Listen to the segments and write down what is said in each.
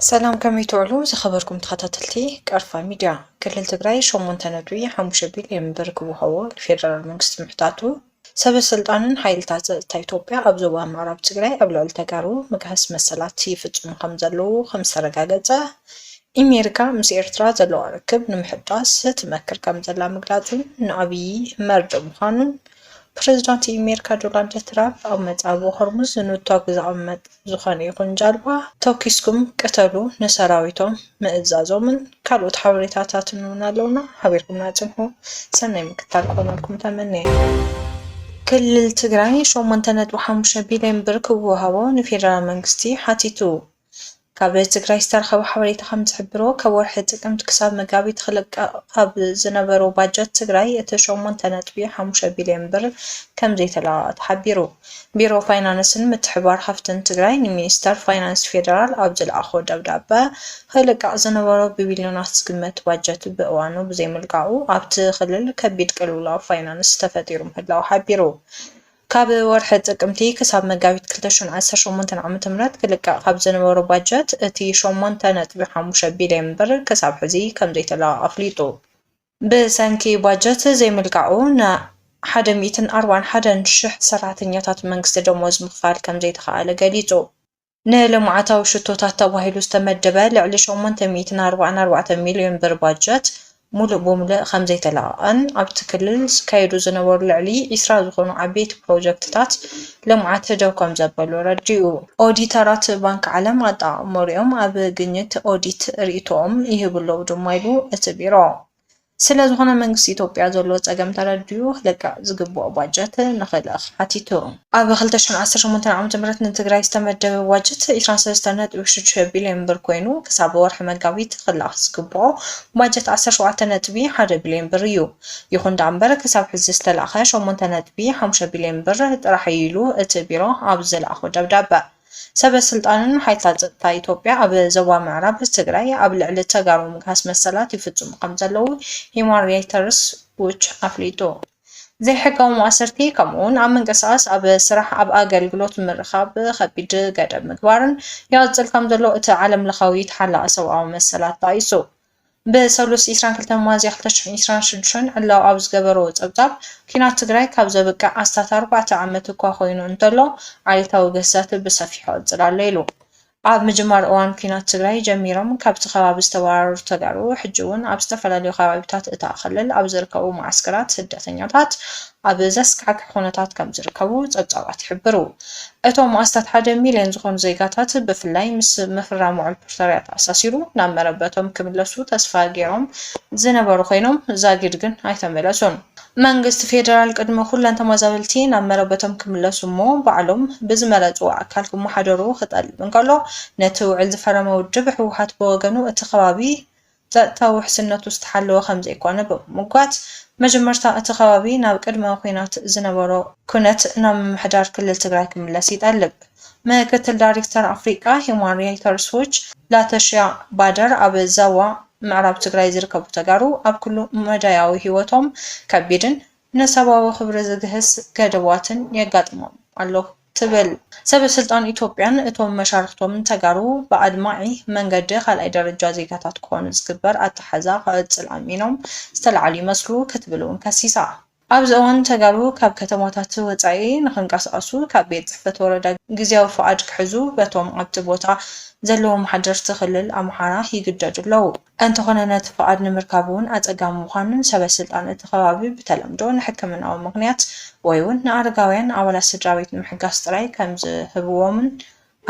ሰላም ከመይ ትውዕሉ ዝኸበርኩም ተኸታተልቲ ቀርፋ ሚድያ። ክልል ትግራይ ሸሞንተ ነጥቢ ሓሙሽተ ቢልዮን ብር ክወሃቦ ንፌደራል መንግስቲ ምሕታቱ፣ ሰበ ስልጣንን ሓይልታት ፀጥታ ኢትዮጵያ ኣብ ዞባ ምዕራብ ትግራይ ኣብ ልዕሊ ተጋሩ ምግሃስ መሰላት ይፍፅሙ ከምዘለዉ ከምዝተረጋገፀ ኢሜሪካ ምስ ኤርትራ ዘለዋ ርክብ ንምሕዳስ ትመክር ከምዘላ ምግላጹን ንኣብዪ መርድእ ምዃኑን ፕሬዝዳንት ኢሜሪካ ዶላንድ ትራፕ ኣብ መጻብቦ ሆርሙዝ ንቶግ ዘቐመጥ ዝኾነ ይኹን ጃልባ ተኩስኩም ቅተሉ ንሰራዊቶም ምእዛዞምን ካልኦት ሓበሬታታትን እውን ኣለውና ሓቢርኩምና ጽንሑ ሰናይ ምክትታል ክኾነልኩም ተመንየ። ክልል ትግራይ ሸሞንተ ነጥቢ ሓሙሽተ ቢልዮን ብር ክወሃቦ ንፌደራል መንግስቲ ሓቲቱ። ካብ ትግራይ ዝተረኸበ ሓበሬታ ከምዝሕብሮ፣ ካብ ወርሒ ጥቅምቲ ክሳብ መጋቢት ክልቀቕ ካብ ዝነበሮ ባጀት ትግራይ እቲ ሸሞንተ ነጥቢ ሓሙሽተ ቢሊየን ብር ከምዘይተለቐቐ ተሓቢሩ። ቢሮ ፋይናንስን ምትሕብባር ሃፍትን ትግራይ ንሚኒስተር ፋይናንስ ፌደራል ኣብ ዝለኣኾ ደብዳበ፣ ክልቀቕ ዝነበሮ ብቢሊዮናት ዝግመት ባጀት ብእዋኑ ብዘይምልቃቑ ኣብቲ ክልል ከቢድ ቅልውላው ፋይናንስ ተፈጢሩ ምህላዉ ሓቢሩ። ካብ ወርሒ ጥቅምቲ ክሳብ መጋቢት ክልተ ሽሕን ዓሰርተ ሸሞንተን ዓ.ም ክልቀቕ ካብ ዝነበሮ ባጀት እቲ ሸሞንተ ነጥቢ ሓሙሽተ ቢልየን ብር ክሳብ ሕዚ ከምዘይተለቐቐ ኣፍሊጡ። ብሰንኪ ባጀት ዘይምልቃቑ ን ሓደ ሚእትን ኣርባዓን ሓደን ሽሕ ሰራሕተኛታት መንግስቲ ደሞዝ ምኽፋል ከምዘይተኽኣለ ገሊፁ። ንልምዓታዊ ሽቶታት ተባሂሉ ዝተመደበ ልዕሊ ሸሞንተ ሚእትን ኣርባዓን ኣርባዕተ ሚሊዮን ብር ባጀት ሙሉእ ብሙሉእ ከምዘይተለቐቐን ኣብቲ ክልል ዝካየዱ ዝነበሩ ልዕሊ ዕስራ ዝኾኑ ዓበይቲ ፕሮጀክትታት ልምዓት ደው ከምዘበሉ ኣረዲኡ። ኦዲተራት ባንኪ ዓለም ኣጠቓቕምኦም ኣብ ግኝት ኦዲት ሪኢቶኦም ይህቡ ኣለዉ ድማ ኢሉ እቲ ቢሮ። ስለዝኾነ መንግስቲ ኢትዮጵያ ዘለዎ ፀገም ተረዲኡ ክልቃዕ ዝግበኦ ባጀት ንክልእኽ ሓቲቱ። ኣብ ክልተ ሽሕን ዓሰርተ ሸሞንተን ዓመተ ምህረት ንትግራይ ዝተመደበ ባጀት ዕስራን ሰለስተን ነጥቢ ሽዱሽተ ቢሊየን ብር ኮይኑ ክሳብ ወርሒ መጋቢት ክልኣኽ ዝግበኦ ባጀት ዓሰርተ ሸውዓተ ነጥቢ ሓደ ቢሊየን ብር እዩ። ይኹን ደኣምበር ክሳብ ሕዚ ዝተላእኸ ሸሞንተ ነጥቢ ሓሙሽተ ቢሊየን ብር ጥራሕ እዩ ኢሉ እቲ ቢሮ ኣብ ዘልኣኾ ደብዳበ። ሰበ ስልጣንን ሓይልታት ጸጥታ ኢትዮጵያ ኣብ ዞባ ምዕራብ ትግራይ ኣብ ልዕሊ ተጋሩ ምግሃስ መሰላት ይፍጽሙ ከምዘለዉ ሂዩማን ራይተርስ ዎች ኣፍሊጡ። ዘይሕጋዊ ማእሰርቲ ከምኡ'ውን ኣብ ምንቅስቓስ፣ ኣብ ስራሕ፣ ኣብ ኣገልግሎት ምርኻብ ከቢድ ገደብ ምግባርን ይቕጽል ከምዘሎ እቲ ዓለምለኻዊ ተሓላቒ ሰብኣዊ መሰላት ጠቒሱ። ብሰሉስ ዕስራን ክልተን ሚያዝያ ክልተ ሽሕን ዕስራን ሽዱሽተን ዕላዊ ኣብ ዝገበሮ ጸብጻብ፣ ኲናት ትግራይ ካብ ዘብቅዕ ኣስታት ኣርባዕተ ዓመት እኳ ኮይኑ እንተሎ፣ ዓሌታዊ ግህሰት ብሰፊሑ ይቕጽል ኣሎ ኢሉ። ኣብ ምጅማር እዋን ኲናት ትግራይ ጀሚሮም ካብቲ ከባቢ ዝተባረሩ ተጋሩ፣ ሕጂ'ውን ኣብ ዝተፈላለዩ ከባቢታት እታ ክልል ኣብ ዝርከቡ መዓስከራት ስደተኛታት ኣብ ዘስካሕክሕ ኩነታት ከምዝርከቡ ጸብጻባት ይሕብሩ። እቶም ኣስታት ሓደ ሚልዮን ዝኾኑ ዜጋታት ብፍላይ ምስ ምፍራም ውዕል ፕሪቶርያ ተኣሳሲሩ ናብ መረበቶም ክምለሱ ተስፋ ገይሮም ዝነበሩ ኮይኖም ዛጊድ ግን ኣይተመለሱን። መንግስቲ ፌደራል ቅድሚ ኩለን ተመዛበልቲ ናብ መረበቶም ክምለሱ እሞ ባዕሎም ብዝመረፅዎ ኣካል ክመሓደሩ ክጠልብ እንከሎ ነቲ ውዕል ዝፈረመ ውድብ ህወሓት ብወገኑ እቲ ከባቢ ጸጥታዊ ውሕስነቱ ዝተሓለወ ከምዘይኮነ ብምምጓት፣ መጀመርታ እቲ ከባቢ ናብ ቅድመ ኲናት ዝነበሮ ኩነት ናብ ምምሕዳር ክልል ትግራይ ክምለስ ይጠልብ። ምክትል ዳይሬክተር ኣፍሪቃ ሂዩማን ሪይተርስ ዎች ላተሽያ ባደር ኣብ ዛዋ ምዕራብ ትግራይ ዝርከቡ ተጋሩ ኣብ ኩሉ መዳያዊ ህይወቶም ከቢድን ንሰብኣዊ ክብሪ ዝግህስ ገደባትን የጋጥሞም ኣሎ ትብል ሰበ ስልጣን ኢትዮጵያን እቶም መሻርኽቶምን ተጋሩ ብኣድማዒ መንገዲ ካልኣይ ደረጃ ዜጋታት ክኾኑ ዝግበር ኣተሓሕዛ ክቕፅል ኣሚኖም ዝተልዓሉ ይመስሉ ክትብል እውን ከሲሳ። ኣብዚ እዋን ተጋሩ ካብ ከተማታት ወፃኢ ንክንቀሳቐሱ ካብ ቤት ፅሕፈት ወረዳ ግዝያዊ ፍቓድ ክሕዙ በቶም ኣብቲ ቦታ ዘለዎም ሓደርቲ ክልል ኣምሓራ ይግደዱ ኣለዉ። እንተኾነ ነቲ ፍቓድ ንምርካብ እውን ኣጸጋሚ ምዃኑን ሰበ ስልጣን እቲ ከባቢ ብተለምዶ ንሕክምናዊ ምኽንያት ወይ'ውን ንኣረጋውያን ኣባላት ስድራቤት ንምሕጋስ ጥራይ ከምዝህብዎምን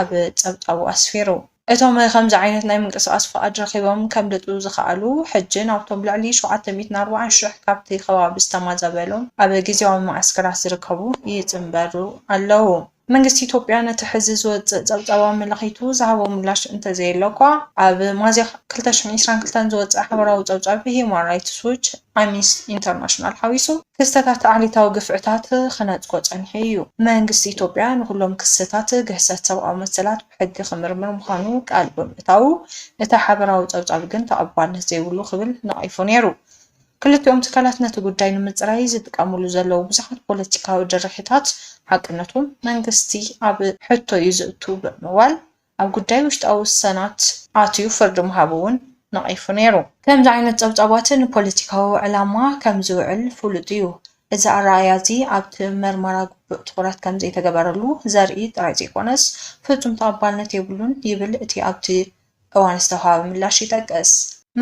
ኣብ ጸብጻቡ ኣስፊሩ። እቶም ከምዚ ዓይነት ናይ ምንቅስቓስ ፍቓድ ረኺቦም ከምልጡ ዝኸኣሉ ሕጂ ናብቶም ልዕሊ ሸውዓተ ሚእትን ኣርባዓን ሽሕ ካብቲ ከባቢ ዝተማዛበሉ ኣብ ግዝያዊ መዓስከራት ዝርከቡ ይጽንበሩ ኣለዉ። መንግስቲ ኢትዮጵያ ነቲ ሕዚ ዝወጽእ ጸብጻባዊ መላኺቱ ዝሃቦ ምላሽ እንተዘየለ'ኳ፣ ኣብ ሚያዝያ ክልተ ሽሕን ዒስራን ክልተን ዝወጸ ሓበራዊ ጸብጻብ ብሂዩማን ራይትስ ዎች፣ ኣምኒስቲ ኢንተርናሽናል ሓዊሱ፣ ክስተታት ዓሌታዊ ግፍዕታት ክነጽጎ ጸኒሑ እዩ። መንግስቲ ኢትዮጵያ ንኹሎም ክስታት ግህሰት ሰብኣዊ መሰላት ብሕጊ ክምርምር ምዃኑ ቃል ብምእታዉ፣ እቲ ሓበራዊ ጸብጻብ ግን ተቐባልነት ዘይብሉ ክብል ነቒፉ ነይሩ። ክልቲኦም ትካላት ነቲ ጉዳይ ንምጽራይ ዝጥቀሙሉ ዘለዉ ብዙሓት ፖለቲካዊ ድርሒታት ሓቅነቱ መንግስቲ ኣብ ሕቶ'ዩ ዘእቱ ብምባል ኣብ ጉዳይ ውሽጣዊ ውሳናት ኣትዩ ፍርዲ ምሃቡ'ውን ነቒፉ ነይሩ። ከምዚ ዓይነት ጸብጻባት ንፖለቲካዊ ዕላማ ከም ዝውዕል ፍሉጥ'ዩ። እዚ ኣረኣእያ'ዚ ኣብቲ መርመራ ግቡእ ትዅረት ከም ዘይተገበረሉ ዘርኢ ጥራይ ዘይኰነስ ፍጹም ተቐባልነት የብሉን ይብል እቲ ኣብቲ እዋን ዝተውሃበ ምላሽ ይጠቅስ።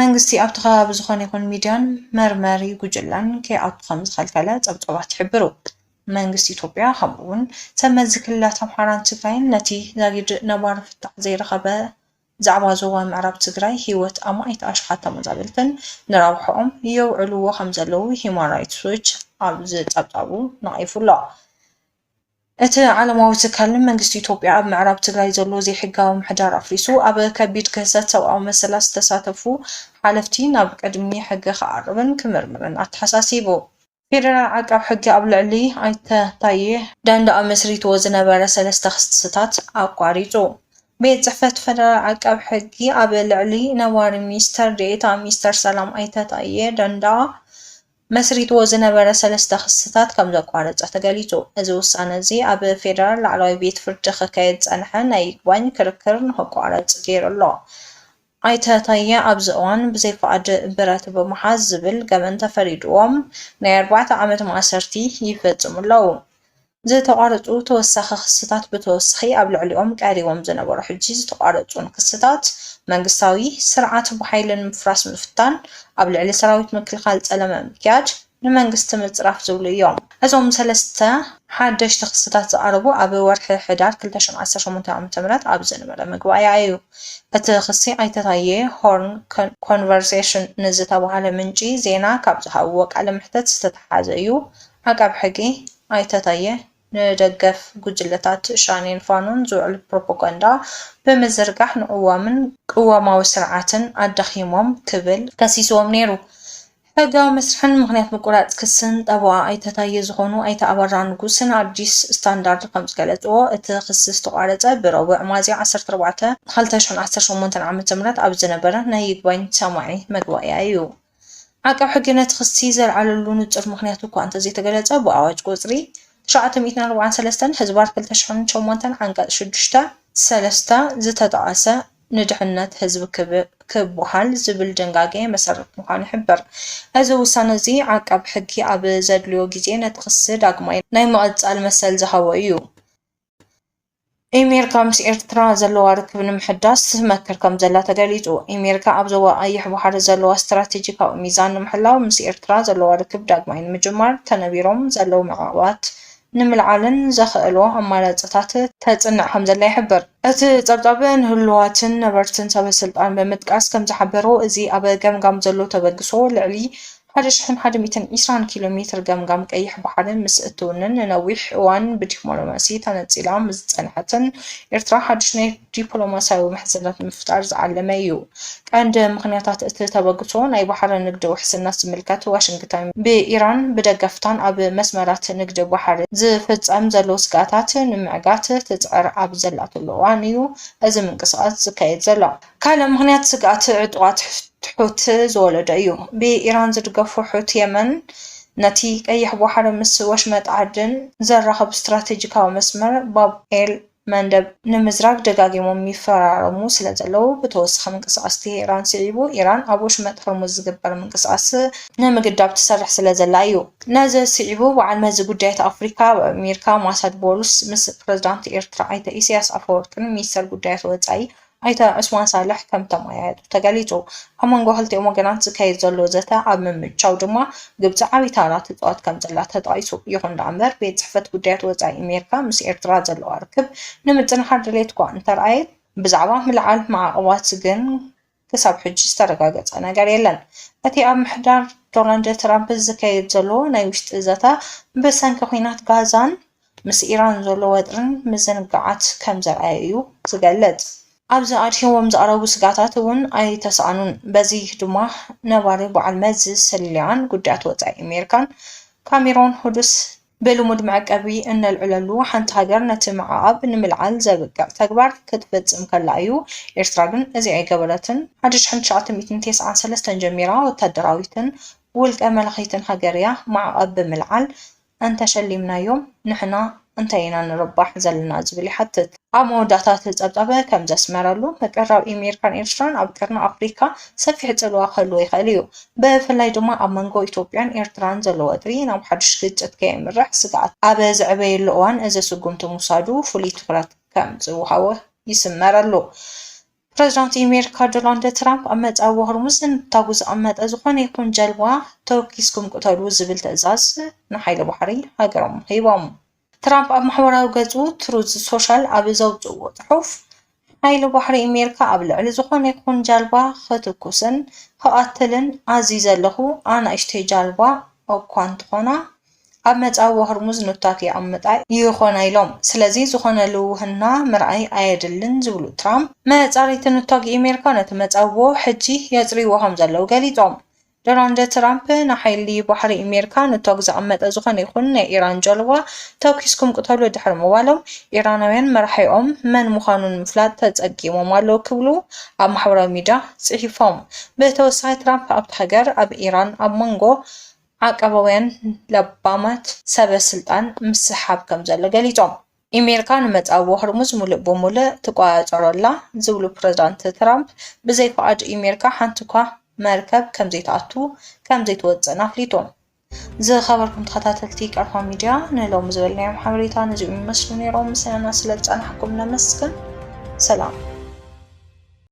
መንግስቲ ኣብቲ ከባቢ ዝኾነ ይኹን ሚድያን መርመሪ ጉጅለን ከይኣቱ ከምዝኸልከለ ፀብፃባት ይሕብሩ። መንግስቲ ኢትዮጵያ ከምኡ እውን ሰብ መዚ ክልላት ኣምሓራን ትግራይን ነቲ ዛጊድ ነባሪ ፍታሕ ዘይረኸበ ዛዕባ ዞባ ምዕራብ ትግራይ ህይወት ኣማኢት ኣሽሓት ተመዛበልትን ንረብሐኦም የውዕልዎ ከምዘለዉ ሂዩማን ራይትስ ዎች ኣብ ዝፀብፃቡ ነቒፉ ኣሎ። እቲ ዓለማዊ ትካል ንመንግስቲ ኢትዮጵያ ኣብ ምዕራብ ትግራይ ዘሎ ዘይሕጋዊ ምሕዳር ኣፍሪሱ ኣብ ከቢድ ግህሰት ሰብኣዊ መሰላት ዝተሳተፉ ሓለፍቲ ናብ ቅድሚ ሕጊ ክኣቅብን ክምርምርን ኣተሓሳሲቡ። ፌደራል ዓቃብ ሕጊ ኣብ ልዕሊ ኣይተ ታዬ ደንደኣ መስሪትዎ ዝነበረ ሰለስተ ክስታት ኣቋሪፁ። ቤት ፅሕፈት ፌደራል ዓቃብ ሕጊ ኣብ ልዕሊ ነባሪ ሚኒስትር ዴኤታ ሚኒስትር ሰላም ኣይተ ታዬ ደንደኣ መስሪትዎ ዝነበረ ሰለስተ ክስታት ከም ዘቋረጸ ተገሊጹ። እዚ ውሳነ እዚ ኣብ ፌደራል ላዕለዋይ ቤት ፍርዲ ክካየድ ዝጸንሐ ናይ ይግባኝ ክርክር ንክቋረጽ ገይሩ ኣሎ። ኣይተ ታየ ኣብዚ እዋን ብዘይ ፍቓድ ብረት ብምሓዝ ዝብል ገበን ተፈሪድዎም ናይ ኣርባዕተ ዓመት ማእሰርቲ ይፈጽሙ ኣለዉ። ዝተቋረፁ ተወሳኺ ክስታት ብተወሳኺ ኣብ ልዕሊኦም ቀሪቦም ዝነበሩ ሕጂ ዝተቋረፁን ክስታት መንግስታዊ ስርዓት ብሓይሊ ንምፍራስ ምፍታን፣ ኣብ ልዕሊ ሰራዊት ምክልኻል ፀለመ ምክያድ፣ ንመንግስቲ ምፅራፍ ዝብሉ እዮም። እዞም ሰለስተ ሓደሽቲ ክስታት ዝቐረቡ ኣብ ወርሒ ሕዳር ክልተ ሽሕን ዓሰርተ ሸሞንተን ዓመተ ምህረት ኣብ ዝነበረ መግባእያ እዩ። እቲ ክሲ ኣይተ ታየ፣ ሆርን ኮንቨርሴሽን ንዝተብሃለ ምንጪ ዜና ካብ ዝሃብዎ ቃለ መሕተት ዝተትሓዘ እዩ ዓቃብ ሕጊ ኣይተ ታየ፣ ንደገፍ ጉጅለታት ሸኔን ፋኖን ዝውዕል ፕሮፖጋንዳ ብምዝርጋሕ ንቅዋምን ቅዋማዊ ስርዓትን ኣዳኺሞም ክብል ከሲስዎም ነይሩ። ሕጋዊ መስርሕን ምኽንያት ምቁራጽ ክስን ጠበቓ ኣይተ ታየ ዝኾኑ ኣይተ ኣበራ ንጉስ ንኣዲስ ስታንዳርድ ከምዝገለጽዎ፣ እቲ ክሲ ዝተቋረጸ ብረቡዕ ሚያዝያ ዓሰርተ ኣርባዕተ ክልተ ሽሕን ዓሰርተ ሸሞንተን ዓመተ ምህረት ኣብ ዝነበረ ናይ ይግባኝ ሰማዒ መግባእያ እዩ። ዓቃብ ሕጊ ነቲ ክሲ ዘልዓለሉ ንጹር ምኽንያት እኳ እንተዘይተገለጸ፣ ብኣዋጅ ቁጽሪ ትሽዓተ ሚእትን ኣርባዓን ሰለስተን ህዝባር ክልተ ሽሕን ሸሞንተን ዓንቀጽ ሽዱሽተ፣ ሰለስተ፣ ዝተጠቐሰ ንድሕነት ህዝቢ ክበሃል ዝብል ድንጋገ መሰረት ምዃኑ ይሕብር። እዚ ውሳነ'ዚ ዓቃብ ሕጊ ኣብ ዘድልዮ ግዜ ነቲ ክሲ ዳግማይ ናይ ምቕጻል መሰል ዝሃቦ እዩ። ኤሜሪካ ምስ ኤርትራ ዘለዋ ርክብ ንምሕዳስ ትመክር ከም ዘላ ተገሊጹ። ኤሜሪካ ኣብ ዞባ ቀይሕ ባሕሪ ዘለዋ ስትራቴጂካዊ ሚዛን ንምሕላው ምስ ኤርትራ ዘለዋ ርክብ ዳግማይ ንምጅማር ተነቢሮም ዘለዉ መዕቐባት ንምልዓልን ዘኸእሉ ኣማራጽታት ተጽንዕ ከም ዘላ ይሕብር። እቲ ጸብጻብ ንህሉዋትን ነበርትን ሰበስልጣን ብምጥቃስ ከም ዝሓበሮ፣ እዚ ኣብ ገምጋም ዘሎ ተበግሶ ልዕሊ ሓደ ሽሕን ሓደ ሚእትን ዒስራን ኪሎ ሜትር ገምጋም ቀይሕ ባሕሪ ምስ እትውንን ንነዊሕ እዋን ብዲፕሎማሲ ተነጺላ ምስ ዝጸንሐትን ኤርትራ ሓድሽ ናይ ዲፕሎማስያዊ ምሕዝነት ንምፍጣር ዝዓለመ እዩ። ቀንዲ ምኽንያታት እቲ ተበግሶ ናይ ባሕሪ ንግዲ ውሕስነት ዝምልከት ዋሽንግተን ብኢራን ብደገፍታን ኣብ መስመራት ንግዲ ባሕሪ ዝፍጸም ዘሎ ስግኣታት ንምዕጋት ትጽዕር ኣብ ዘላትሉ እዋን እዩ እዚ ምንቅስቓስ ዝካየድ ዘሎ። ካልእ ምኽንያት ስግኣት ዕጡቓት ሑቲ ዝወለዶ እዩ። ብኢራን ዝድገፉ ሑቲ የመን ነቲ ቀይሕ ባሕሪ ምስ ወሽመጥ ዓደን ዘራኽብ ስትራቴጂካዊ መስመር ባብ ኤል መንደብ ንምዝራግ ደጋጊሞም ይፈራረሙ ስለዘለዉ ብተወሳኺ ምንቅስቓስ ቴህራን ስዒቡ ኢራን ኣብ ወሽመጥ ሆርሙዝ ዝግበር ምንቅስቓስ ንምግዳብ ትሰርሕ ስለዘላ እዩ። ነዚ ስዒቡ በዓልመዚ ጉዳያት ኣፍሪካ ኣብ ኣሜሪካ ማሳድ ቦሉስ ምስ ፕረዚዳንት ኤርትራ ኣይተ ኢሳያስ ኣፈወርቅን ሚኒስተር ጉዳያት ወፃኢ ኣይተ ዑስማን ሳልሕ ከምተመያየጡ ተገሊፁ። ኣብ መንጎ ክልቲኦም ወገናት ዝካየድ ዘሎ ዘተ ኣብ ምምችቻው ድማ ግብፂ ዓብዪ ተራ ትፃወት ከምዘላ ተጠቒሱ። ይኹን ደኣምበር ቤት ፅሕፈት ጉዳያት ወፃኢ ኣሜሪካ ምስ ኤርትራ ዘለዋ ርክብ ንምጥንኻር ድሌት'ኳ እንተርኣየት፣ ብዛዕባ ምልዓል ማዕቐባት ግን ክሳብ ሕጂ ዝተረጋገፀ ነገር የለን። እቲ ኣብ ምሕዳር ዶናልድ ትራምፕ ዝካየድ ዘሎ ናይ ውሽጢ ዘተ ብሰንኪ ኵናት ጋዛን ምስ ኢራን ዘሎ ወጥሪን ምዝንጋዓት ከም ዘርኣየ'ዩ ዝገልጽ። ኣብዚ ኣድሂቦም ዘቕረቡ ስግኣታት እውን ኣይተሳእኑን። በዚ ድማ ነባሪ በዓል መዚ ስለያን ጉዳያት ወጻኢ ኣሜሪካን ካሜሮን ሁዱስ፣ ብልሙድ መዕቀቢ እነልዕለሉ ሓንቲ ሃገር ነቲ ምዕቓብ ንምልዓል ዘብቅዕ ተግባር ክትፍጽም ከላ እዩ፣ ኤርትራ ግን እዚ ኣይገበረትን። ሓደ ሽሕን ትሽዓተ ሚእትን ተስዓን ሰለስተን ጀሚራ ወተሃደራዊትን ውልቀ መላኺትን ሃገር እያ፣ ማዕቐብ ብምልዓል እንተሸሊምናዮም ንሕና እንታይ ኢና ንርባሕ ዘለና ዝብል ይሓትት። ኣብ መወዳእታ እቲ ጸብጻብ ከም ዘስመረሉ፣ ምቅርራብ ኢሜሪካን ኤርትራን ኣብ ቀርኒ ኣፍሪካ ሰፊሕ ጽልዋ ክህልዎ ይኽእል እዩ። ብፍላይ ድማ ኣብ መንጎ ኢትዮጵያን ኤርትራን ዘሎ ወጥሪ ናብ ሓዱሽ ግጭት ከየምርሕ ስግኣት ኣብ ዝዕበየሉ እዋን እዚ ስጉምቲ ምውሳዱ ፍሉይ ትኹረት ከም ዝወሃቦ ይስመረሉ። ፕረዚዳንት ኣሜሪካ ዶናልድ ትራምፕ ኣብ መዕጸዊ ሆርሙዝ ንታጉ ዝቐመጠ ዝኾነ ይኹን ጀልባ ተወኪስኩም ቅተሉ ዝብል ትእዛዝ ንሓይሊ ባሕሪ ሃገሮም ሂቦም። ትራምፕ ኣብ ማሕበራዊ ገጹ ትሩዝ ሶሻል ኣብ ዘውጽእዎ ጽሑፍ፣ ሓይሊ ባሕሪ ኣሜሪካ ኣብ ልዕሊ ዝኾነ ይኹን ጃልባ ክትኩስን ክቐትልን ኣዚዘ ኣለኹ፣ ኣናእሽተይ ጃልባ እኳ እንተኾና፣ ኣብ መጻብቦ ሆርሙዝ ኑታት የቐምጣ ይኾና ኢሎም። ስለዚ ዝኾነ ልውህና ምርኣይ ኣየድልን ዝብሉ ትራምፕ፣ መጻረይቲ ኑታጊ ኣሜሪካ ነቲ መጻብቦ ሕጂ የጽርይዎ ከምዘለዉ ገሊጾም። ዶናልድ ትራምፕ ንሓይሊ ባሕሪ ኣሜሪካ ኑታጊ ዘቐመጠ ዝኾነ ይኹን ናይ ኢራን ጃልባ ተኲስኩም ቅተሉ ድሕሪ ምባሎም፣ ኢራናውያን መራሒኦም መን ምዃኑ ንምፍላጥ ተጸጊሞም ኣለዉ ክብሉ ኣብ ማሕበራዊ ሚድያ ጽሒፎም። ብተወሳኺ ትራምፕ ኣብታ ሃገር ኣብ ኢራን ኣብ መንጎ ዓቃባውያን ለባማት ሰበ ስልጣን ምስሕሓብ ከምዘሎ ገሊጾም። ኢሜሪካ ንመጻብቦ ሆርሙዝ ሙሉእ ብሙሉእ ትቆጻጸሮ'ላ ዝብሉ ፕረዚዳንት ትራምፕ፣ ብዘይ ፍቓድ ኢሜሪካ ሓንቲ'ኳ መርከብ ከምዘይትኣቱ ከምዘይትወጽእን ኣፍሊጦም። ዝኸበርኩም ተኸታተልቲ ቀርፋ ሚድያ ንሎሚ ዝበልናዮም ሓበሬታ ነዚኦም ይመስሉ ነይሮም። ምስናና ስለዝጸናሕኩም ነመስግን። ሰላም።